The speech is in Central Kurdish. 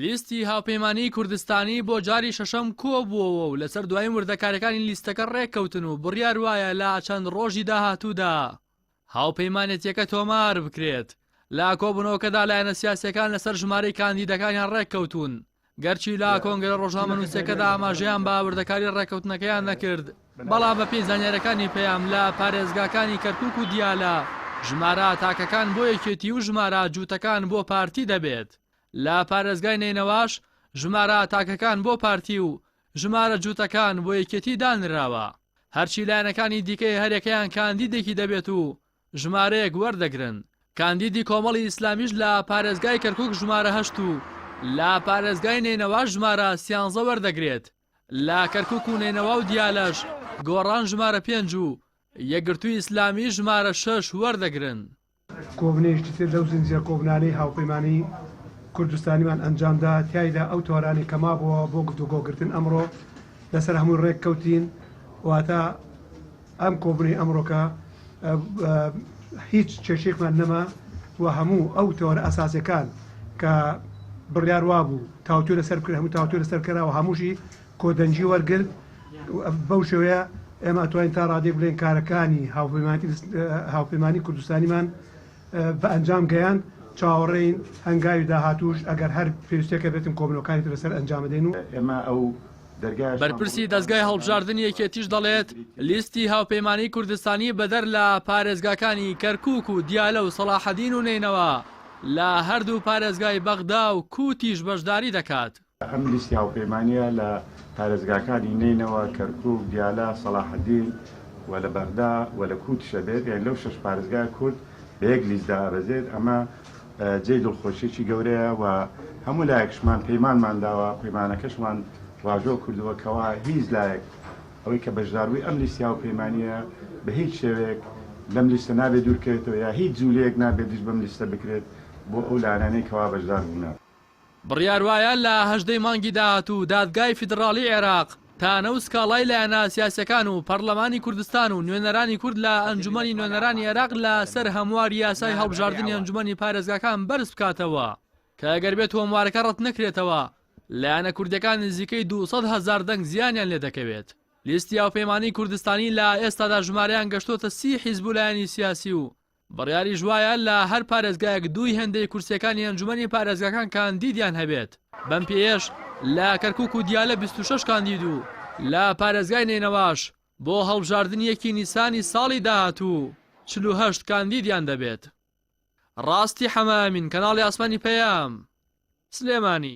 لیستی هاوپەیمانیی کوردستانی بۆ جاری شەشەم کۆبووەوە و لەسەر دواین وردەکاریەکانی لیستەکە ڕێککەوتن و بڕیار وایە لە چەند ڕۆژی داهاتوودا هاوپەیمانێتیەکە تۆمار بکرێت. لە کۆبوونەوەکەدا لایەنە سیاسییەکان لەسەر ژمارەی کاندیدەکانیان ڕێککەوتوون، گەرچی لە کۆنگرە ڕۆژنامەنووسییەکەدا ئاماژەیان بە وردەکاری ڕێککەوتنەکەیان نەکرد. بەڵام بەپێی زانیارییەکانی پەیام لە پارێزگاکانی کەرکوک و دیالە ژمارە تاکەکان بۆ یەکێتی و ژمارە جووتەکان بۆ پارتی دەبێت، لە پارێزگای نەینەواش ژمارە تاکەکان بۆ پارتی و ژمارە جووتەکان بۆ یەکێتی دانراوە، هەرچی لایەنەکانی دیکەی هەریەکەیان کاندیدێکی دەبێت و ژمارەیەک وەردەگرن، کاندیدی کۆمەڵی ئیسلامیش لە پارێزگای کەرکوک ژمارە هەشت و لە پارێزگای نەینەواش ژمارە سیانزە وەردەگرێت. لە کەرکوک و نەینەوا و دیالەش گۆڕان ژمارە پێنج و یەکگرتووی ئیسلامی ژمارە شەش وەردەگرن. کۆبنێشتی تر لەو زنجیرە کۆبنانەی هاوپەیمانی کوردستانیمان ئەنجامدا، تیایدا ئەو تەوەرانەی کە مابۆوە بۆ گفتوگۆکردن ئەمڕۆ لەسەر هەمووی رێککەوتین، واتە، ئەم کۆبونەی ئەمڕۆکە هیچ کێشەیەکمان نەما و هەموو ئەو تەوەرە ئەساسەکان کە بڕیار وابوو تاوتوێ لەسەر بکرێت هەموو تاوتوێ لەسەر کراوە هەمووشی کۆدەنجی وەرگرت بەو شێوەیە ئێمە ئەتوانین تا ڕادێک بڵێن کارەکانی هاوپەیمانەتی هاوپەیمانی کوردستانیمان بە ئەنجام گەیاند چاوەڕێین هەنگاوی داهاتوش ئەگەر هەر پێویستەکە بێتن کۆبنەکانی لەسەر ئەنجامدەین و ئێمە ئەو بەرپرسی دەزگای هەڵبژاردنی یەکێتیش دەڵێت، لیستی هاوپەیمانیی کوردستانی بەدەر لە پارێزگاکانی کەرکووک و دیالە و سەڵاحەدین و نەینەوا، لە هەردوو پارێزگای بەغدا و کووتیش بەشداری دەکات. ئەم لیستی هاوپەیمانییە لە پارێزگاکانی نەینەوا، کەرکووک، دیالە، سەڵاحەدین و لە بەغدا و لە کووتیش ئەبێت، یانی لەو شەش پارێزگای کورد بە یەک لیست دائەبەزێت، ئەمە جێی دڵخۆشیەکی گەورەیە و هەموو لایەکشمان پەیمانمان داوە، پەیمانەکەشمان واژۆ کردووە کەوا هیچ لایەک ئەوەی کە بەشداربووی ئەم لیست هاوپەیمانیە بە هیچ شێوەیەک لەم لیستە نابێت دوورکەوێتەوە یا هیچ جولەیەک نابێت دژ بەم لیستە بکرێت بۆ ئەو لایەنانەی کەوا بەشداربوونە. بڕیار وایە لە هەژدەی مانگی داهاتوو دادگای فیدڕاڵیی عێراق تانە و سکاڵای لایەنە سیاسییەکان و پەڕڵەمانی کوردستان و نوێنەرانی کورد لە ئەنجوومەنی نوێنەرانی عێراق لە سەر هەموار یاسای هەڵبژاردنی ئەنجوومەنی پارێزگاکان بەرز بکاتەوە کە گەر بێت هۆموارەکە ڕەت نەکرێتەوە لایەنە کوردییەکان نزیکەی دوو سەد هەزار دەنگ زیانیان لێ دەکەوێت. لیستی هاوپەیمانیی کوردستانی لە ئێستادا ژمارەیان گەشتۆتە سی حیزب و لایەنی سیاسی و بڕیاریش وایە لە هەر پارێزگایەک دووی هێندەی کورسییەکانی ئەنجومەنی پارێزگاکان کاندیدیان هەبێت، بەم پێیەش لە کەرکوک و دیالە بیست و شەش کاندید و لە پارێزگای نەینەواش بۆ هەڵبژاردنی یەکی نیسانی ساڵی داهاتوو چل و هەشت کاندیدیان دەبێت. ڕاستی حەمە ئەمین، کەناڵی ئاسمانی پەیام، سلێمانی.